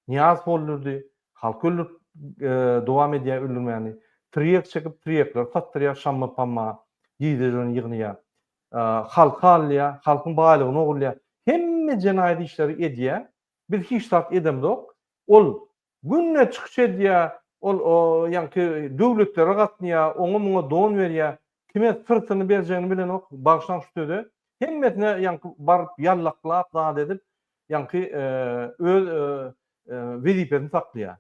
nyýazow öldürdi halky öldürip dowam edýä öldürmäni tirýek çekip tirýekleri satdyrýa şamma pamma gije ýygynyýa halky alýar, halkyň baýlygyny ogurlaýar. Hemme jenaýat işleri edýär. Biz hiç zat edemzok. Ol günde çykyş edýär, ol ýaňky döwletlere gatnaýar, oňa-muňa don berýär. Kime syrtyny berjegini bilenok, bagyşlaň şu söze. Hemmesine ýaňky baryp ýallaklap zat edip, ýaňky öz wezipesini saklaýar.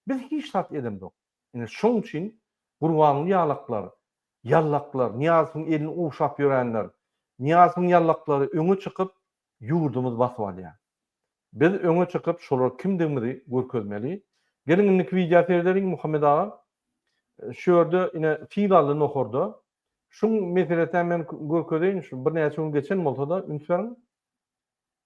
Biz hiç zat edemzok. Ine, şoň üçin Gurbanguly ýalaklar, ýallaklar, Nyýazowyň elini gowşap ýörenler, Nyýazowyň ýallaklary öňe çykyp, ýurdumyzy basyp alýar. Biz öňe çykyp, şolar kimdigimizi görkezmeli. Geliň, indiki wideo seredeliň, Muhammet aga. Şu ýerde, ine, fil aldy nohurda. Şuň meselesem men görkezeýin, şu birnäçe gün geçen bolsa-da, üns beriň.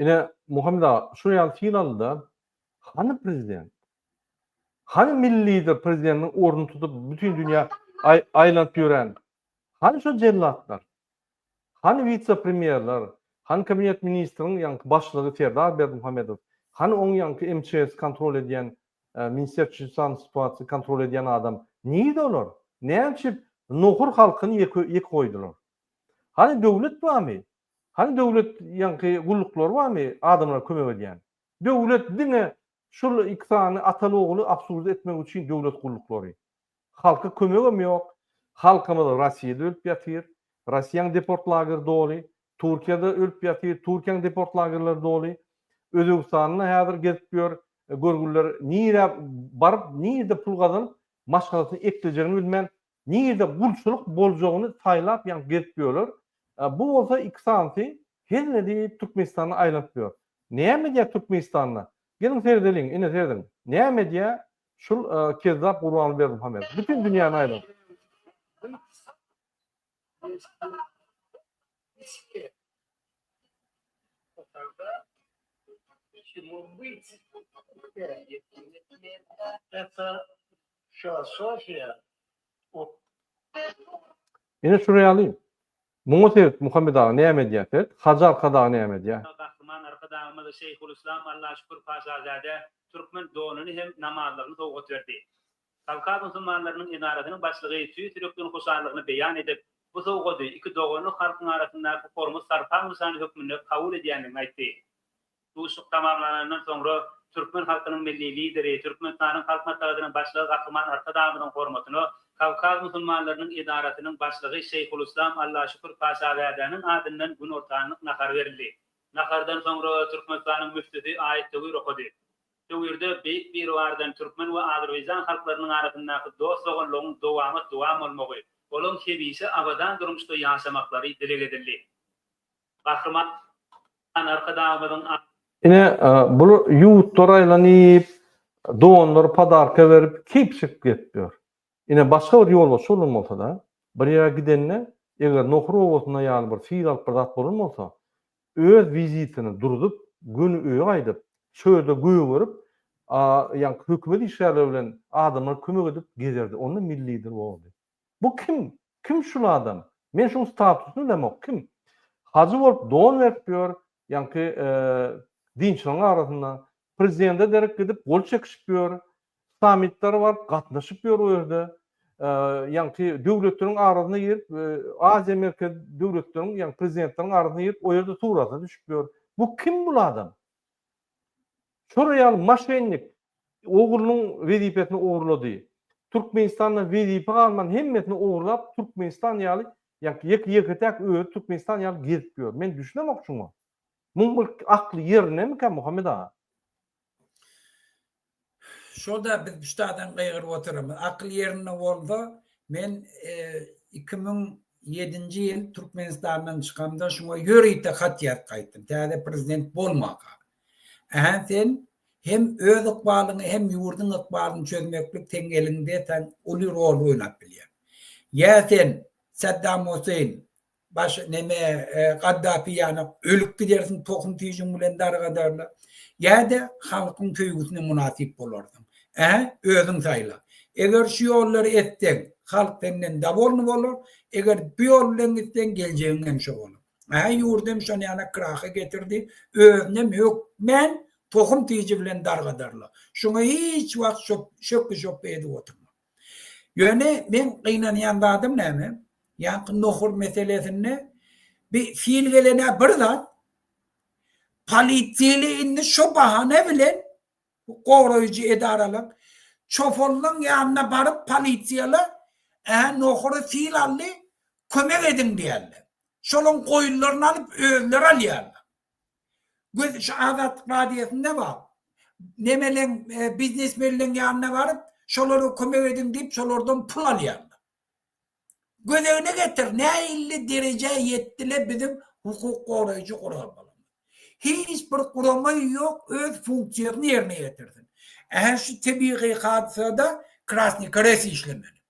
Ine, Muhammet aga, şu ýaly fil aldy-da, hany prezident? Hany milli lider prezidentiň ornuny tutup, bütin dünýä aýlanyp ýören? Hany şo jellatlar? Hany wise-premýerler? Hany kabinet ministriň ýaňky başlygy Serdar Berdimuhamedow? Hany oň ýaňky MÇS kontrol edýän Minister Çžisan situasiýa kontrol edýän adam nirde olar? Näme üçin nohur halkyny ýeke ýeke goýdular? Hany döwlet barmy? Hany döwlet ýaňky gulluklary barmy adamlara kömek edýän? Döwlet diňe şul iki sany ataly ogly absurda etmek üçin döwlet gulluklary. Halka kömegem ýok. Halkymyz Rossiýada ölüp ýatyr. Rossiýaň deport lageri doly. Turkiýada ölüp ýatyr. Turkiýaň deport lagerleri doly. Özbegistanda häzir gezip ýör görgüliler. Nirä baryp, nirde pul gazanyp, maşgalasyny eklejegini bilmän, nirde gulçulyk boljagyny saýlap ýaňky gezip ýörler. Bu bolsa iki sanysy hezzin edip Türkmenistanda aýlanyp ýör. Näme edýär Türkmenistanda? Geliň seredeliň, ine serediň. Näme edýär? Şul kezzap Gurban Berdimuhamedow bütin dünýäni aýlap. Ine şuny alyň. Muňa sert Muhammet aga näme edýär sert Hajy arkadagy näme edýär. Gahryman Arkadagymyz Şeýhulyslam Allaşükür Paşazäde türkmen donuny hem namazlygyny sowgat berdi. Kawkaz musulmanlarynyň edarasynyň başlygy tüýs ýürekden hoşallygyny beýan edip, bu sowgady iki doganlyk halkyň arasyndaky hormat-sarpaň nyşany hökmünde kabul edýändigini aýtdy. Duşuşyk tamamlanandan soňra türkmen halkynyň Milli Lideri, Türkmenistanyň Halk Maslahatynyň Başlygy Gahryman Arkadagymyzyň hormatyna Kawkaz musulmanlarynyň edarasynyň başlygy Şeýhulyslam Allaşükür Paşazadäniň adyndan günortanlyk nahar berildi. Nahardan soňra Türkmenistanyň müftüsi aýat töwir okady. Töwirde Beýik Biribardan türkmen we azerbaýjan halklarynyň arasyndaky dost-doganlygyň dowamat dowam bolmagy, olaň hemişe abadan durmuşda ýaşamaklary dileg edildi. Gahryman Arkadagymyzyň a. Ine, bul ýurtlar aýlanyp, donlar podarka berip, keýp çekip gezip ýör. Ine, başga bir ýolbaşçy bolan bolsa-da, bir ýere gidende, eger nohur obasynda ýaly bir syr alyp bir zat bolan bolsa, öz wizitini durzup, göni öýe gaýdyp, çölde gögerip, a, ýaňky hökümet işgärleri bilen adamlar kömek edip gezerdi. Onda milli lider bolardy. Bu kim? Kim şul adam? Men şuň statusyny bilemok, kim? Hajy bolup don berip ýör, ýaňky dinçilaň arasynda. Prezidende derek gidip gol çekişip ýör. Sammitlere baryp gatnaşyp ýör o ýerde. Ýaňky döwletleriň arasyna girip, Aziýa merkez döwletleriň, ýaňky prezidentleriň arasyna girip, o ýerde surata düşüp ýör. Bu kim bul adam? Şolar ýaly moşennik oglunyň wezipesini ogurlady. Türkmenistanda wezipe galman hemmesini ogurlap Türkmenistan ýaly ýa ýeke ýeketäk özi Türkmenistan ýaly gezip ýör. Men düşünemok şuňa. Muň bir akly ýerinemikä Muhammet aga? Şoda biz büştadan gygyryp oturamyz. Akyl ýerinde bolsa men iki müň ýedinji ýyl Türkmenistandan çykamda şuňa ýörite hat ýazyp gaýtdym. Täze prezident bolmaka. Ähä sen hem öz ykbalyňy hem ýurduň ykbalyny çözmeklik seň eliňde sen uly rol oýnap bilýäň. Ýa sen Saddam Huseýn baş neme Gaddafi ýaly ölüp gidersiň tohum tüýjüň bilen dargadarlar ýa-da halkyň söýgüsine mynasyp bolarsyň. Ähä özüň saýla. Eger şu ýollary etseň halk senden dowolny bolar, eger bu ýol bilen gitseň geljegiň hem şo bolar. Hä, ýurdy hem şon ýana kraha getirdi, özüni hem hökmän tohum tiji bilen dargadarlar. Şuňa hiç wagt şöpli-şöpli edip oturma. Ýöne meň gynanýan zadym näme? Ýaňky nohur meselesinde bi fil gelen-ä bir zat, polisiýaly indi şo bahana bilen Bu goraýjy edaralyk çopanlaň ýanyna baryp polisiýala ä nohura sil aldy kömek ediň diýärler. Şolaň goýunlaryny alyp özleri alýarlar. Göz şu Azatlyk radiýosynda bar. Nemeleň biznesmenleň ýanyna baryp şolara kömek ediň diýip şolardan pul alýarlar. Gözegine getir, nähilli derejä ýetdi-le biziň hukuk goraýjy guramalarymyz? Hiç bir gurama ýok öz funksiýasyny ýerine ýetirsin. Ähli şu tebigy hadysada krasny krest işlemeli.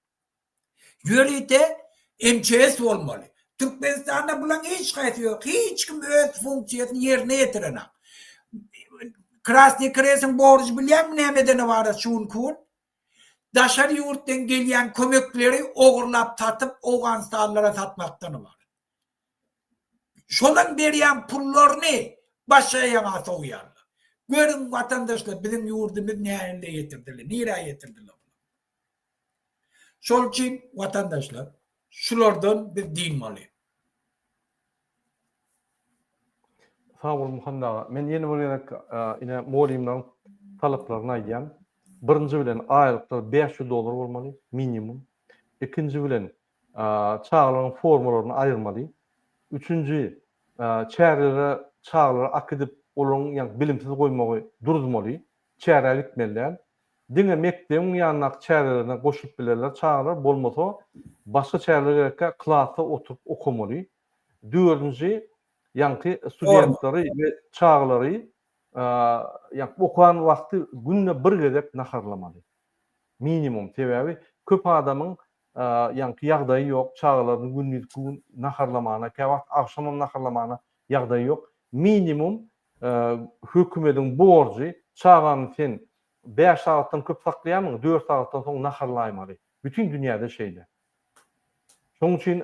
Ýörite MÇS bolmaly. Türkmenistanda bulaň hiç haýsy ýok. Hiç kim öz funksiýasyny ýerine ýetirenok. Krasny krestiň borjy bilýäňmi nämeden ybarat şu günki gün? daşary ýurtdan gelýän kömekleri ogurlap satyp owganystanlylara satmakdan ybarat. Şolaň berýän pullaryny başga ýaňa sowýarlar. Görüň watandaşlar biziň ýurdumyz nähille ýetirdiler, nirä ýetirdiler bular. Şol üçin watandaşlar şulardan biz dynmaly. Sag bol Muhammet aga. Men ýene bir gezek ine mugallymlaryň talaplaryny aýdýan. Birinji bilen aýlyklar bäş ýüz dollar bolmaly minimum. Ikinji bilen çagalaryň formalaryny aýyrmaly. Üçünji çärlere çagalary akidip olaryň ýa bilimsiz goýmagy duruzmaly. Çärä gitmeli däl. Diňe mekdebiň ýanyndaky çärelerine goşulyp bilerler çagalar, bolmasa başga çäreler gerekkä klasda oturyp okamaly. Dördünji ýaňky studentlary we çagalary ýaňky okan wagty günde bir gezek naharlamaly. Minimum, sebäbi köp adamyň ýaňky ýagdaýy ýok, çagalaryny gündizki gün naharlamagyna, käwagt agşamam naharlamagyna ýagdaýy ýok. Minimum Hökümediň borjy, çagany sen bäş sagatdan köp saklaýarmyň, dört sagatdan soň naharlaýmaly. Bütin dünýäde şeýle. Şonuň üçin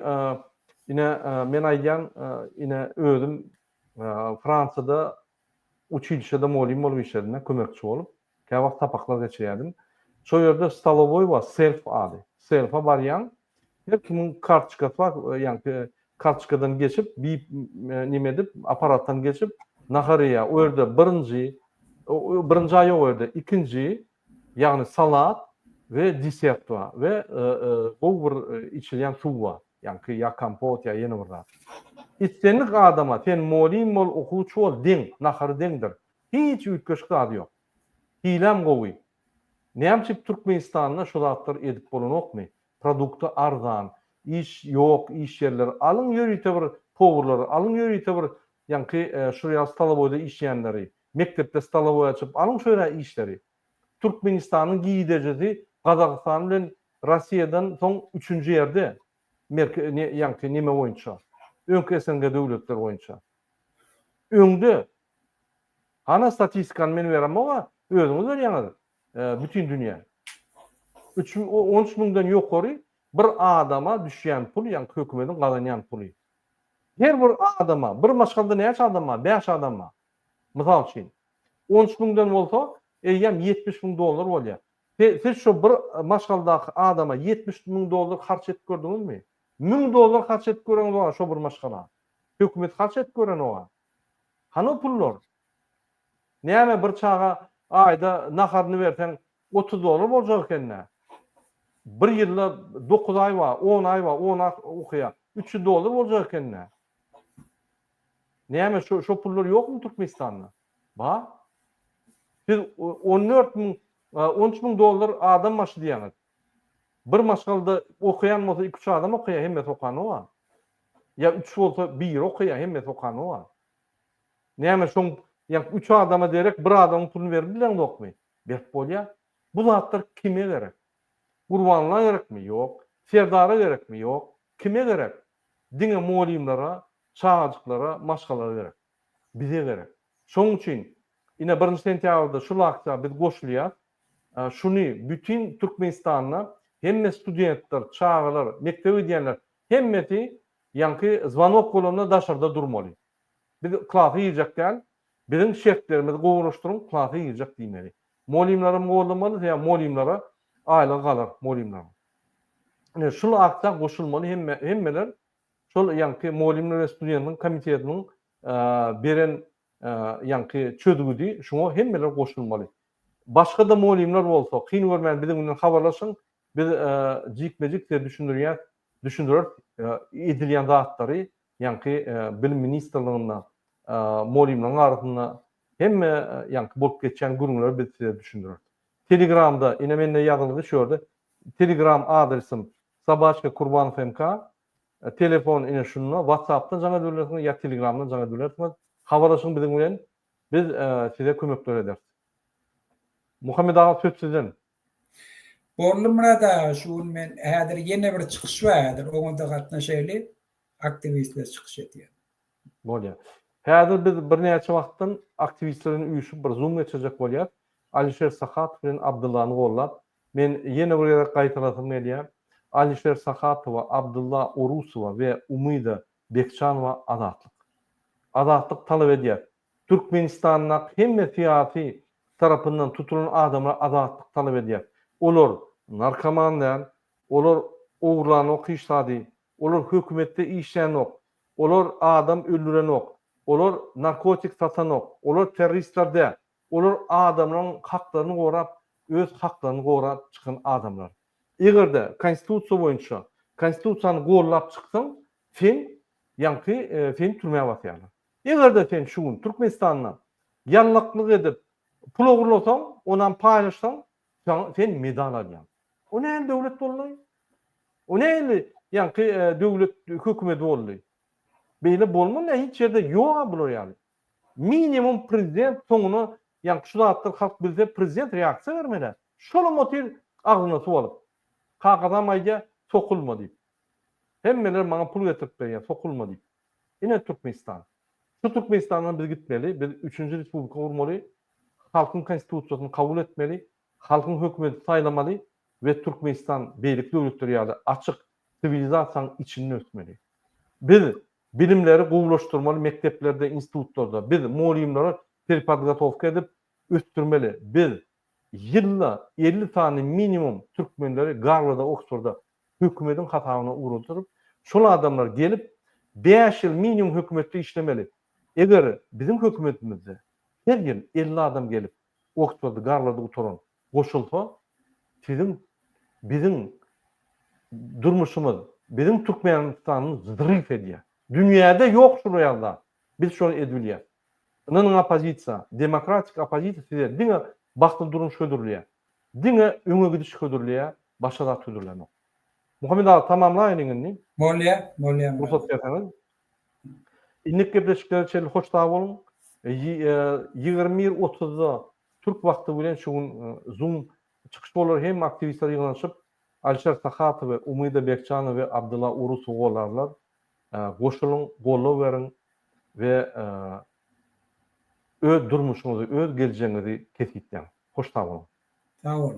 ine men aýdýan ine özüm Fransiýada uçilişede molym bolup işledim, kömekçi bolup. Käwagt sapaklar geçirýärdim. Şol ýerde stolowoý bar, serf ady. Serfa barýaň, her kimiň kartoçkasy bar, ýaňky kartoçkadan geçip, bip, nime edip, apparatdan geçip, nahar iýýär. O ýerde birinji, birinjä ýok o ýerde, ikinji, ýagny salat we desert bar we gowy bir içilýän suw bar. Ýaňky ýa kompot, ýa ýene bir zat. Islendik adama, sen molin bol, okuwçy bol, deň, nahary deňdir. Hiç üýtgeşik zady ýok. Hilem gowy. Näme üçin Türkmenistanda şu zatlar edip bolanokmy? Produkty arzan. Iş ýok, iş ýerleri. Alyň ýörite bir powurlary, alyň ýörite bir ýaňky şurýa stolowoýda işleýänleri, mekdepde stolowoý açyp, alyň şu ýere işleri. Türkmenistanyň gidejisi Gazagystan bilen Rossiýadan soň üçünji ýerde, merke ne ýaňky neme boýunça, öňki SNG döwletleri boýunça. Öňde Hany statistikany men beremog-a, özüňiz berýäňiz bütin dünýä. Üç, on üç müňden ýokary bir adama düşýän pul, ýagny hökümediň gazanýan puly. Her bir adama, bir maşgalada näçe adam bar? Bäş adam bar. Mysal üçin. On üç müňden bolsa, eýýäm ýetmiş müň dollar bolýar. Siz şo bir maşgaladaky adama ýetmiş müň dollar harç edip gördüňizmi? Müň dollar harç edip göreňiz oňa şo bir maşgala. Hökümet harç edip gören oňa. Hany o pullar? Näme bir çaga aýda naharyny berseň otuz dollar boljak ekeni-dä. Bir ýylda dokuz aý bar, on aý bar, on aý okaýar. Üç ýüz dollar boljak ekeni-dä. Näme şo şo pullar ýokmy Türkmenistanda? Bar. Siz on dört müň, on üç müň dollar adam başy diýýäňiz. Bir maşgalda okaýan bolsa iki-üç adam okaýar, hemmesi okany bar. Ýa üç bolsa biri okaýar, hemmesi okany bar. Näme şoň ýa üç adama derek bir adamyň puluny berip bileňzokmy? Berip bolýar. Bu zatlar kime gerek? Gurbanala gerekmi? Ýok. Serdara gerekmi? Ýok. Kime gerek? Diňe mugallymlara, çagajyklara, maşgalala gerek. Bize gerek. Şoň üçin ine birinji sentýabrda şul aksiýa biz goşulýas. Şuny bütin Türkmenistanda hemme studentler, çagalar, mekdebe gidýänler hemmesi ýaňky zwanok bolanda daşarda durmaly. Biz klasa girjek däl, biziň şertlerimizi gowulaşdyryň, klasa girjek diýmeli. Mugallymlaram goldamaly, sebäbi mugallymlara aýlygy galar mugallymlaryň. Ine şul aksiýa goşulmaly hemme hemmeler şol ýaňky mugallymlar we studentler komitetiniň beren ýaňky çözgüdi şuňa hemmeler goşulmaly. Başga-da mugallymlar bolsa, kyn görmän biziň bilen habarlaşyň, biz jikme-jik size düşündirýäs, düşündireris edilýän zatlary, ýaňky Bilim ministrliginde mugallymlaryň arasynda hemme ýaňky bolup geçýän gürrüňleri biz size düşündireris. Telegramda, ine mende ýazylgy şu ýerde, telegram adresym, Sabaçka Kurbanov MK, telefon ine şunda, WhatsAppdan jaň edip bilersiňiz ýa telegramdan jaň edip bilersiňiz. Habarlaşyň biziň bilen, Biz size kömekler ederis. Muhammet aga söz sizden. Boldy Myrat aga şu gün men häzir ýene bir çykyş bar häzir oňada gatnaşaýly aktiwistler çykyş edýär. Bolýar. Häzir biz birnäçe wagtdan aktiwistler bilen üýşüp bir zoom geçirjek bolýas. Alişer Sahatow bilen Abdyllany gollap men ýene bir gezek gaýtalasym gelýär. Alişer Sahatowa, Abdylla Orusowa we Umyda Bekjanowa Azatlyk. Azatlyk talap edýär. Türkmenistandaky hemme syýasy tarapyndan tutulan adamlar azatlyk talap edýär. Olar narkoman däl, olar ogurlanok hiç zady, olar hökümetde işlänok, olar adam öldürenok, olar narkotik satanok, olar terroristler däl, olar adamlaryň haklaryny gorap, öz haklaryny gorap çykan adamlar. Eger-de konstitusiýa boýunça konstitusiýany gollap çyksaň, sen ýaňky seni türmä basýarlar. Eger-de sen şu gün Türkmenistanda ýalňaklyk edip pul ogurlasaň, onam paýlaşsaň, sen medal alýaň. O nähili döwlet boldy? O nähili ýaňky döwlet hökümedi boldy? Beýle bolmaz, hiç ýerde ýok-a bular ýaly. Minimum prezident soňuna ýaňky şu zatlar halk bilse prezident reaksiýa bermelä. Şolam otyr agzyna suw alyp. Kakasam aýdýa sokulma diýip. Hemmeler maňa pul getirip berýä sokulma diýip. Ine Türkmenistan. Şu Türkmenistandan biz gitmeli, biz üçünji respublika gurmaly, halkyň konstitusiýasyny kabul etmeli, halkyň hökümeti saýlamaly we Türkmenistan beýleki döwletler ýaly açyk siwilizasiýaň içinde ösmeli. Biz Bilimleri gowulaşdyrmaly mekdeplerde, institutlarda. Biz mugallymlary perpodgotowka edip ösdürmeli. Biz ýylda elli sany minimum türkmenleri Garwarda, Oksforda hökümetiň hasabyna ugradyryp, şol adamlar gelip, bäş ýyl minimum hökümetde işlemeli. Eger biziň hökümetimizde her ýyl elli adam gelip, Oksfordy, Garwardy gutaran, Goşulsa, siziň, biziň durmuşymyz, biziň Türkmenistanymyz zrif edýär. Dünýäde ýok şular ýaly zat. Biz şony edip bilýäs. Ynanyň oppozisiýa, demokratik oppozisiýa size diňe bagtly durmuş hödürleýär. Diňe öňe gidiş hödürleýär, başga zat hödürlänok. Muhammet aga tamamlaýynyň indi. Bolýar, bolýar. Rugsat berseňiz. Indik gepleşiklere çenli hoş sag boluň. Ýigrimi bir otuzda türk wagty bilen şu gün Zoom çykyş bolar. Hemme aktiwistler ýygnanyşyp, Alişer Sahatowy, Umyda Bekjanowy we Abdylla Urusowy gollarlar. Goşulyň, goldaw beriň we öz durmuşyňyzy, öz geljegiňizi kesgitleň. Hoş sag boluň. Sag boluň.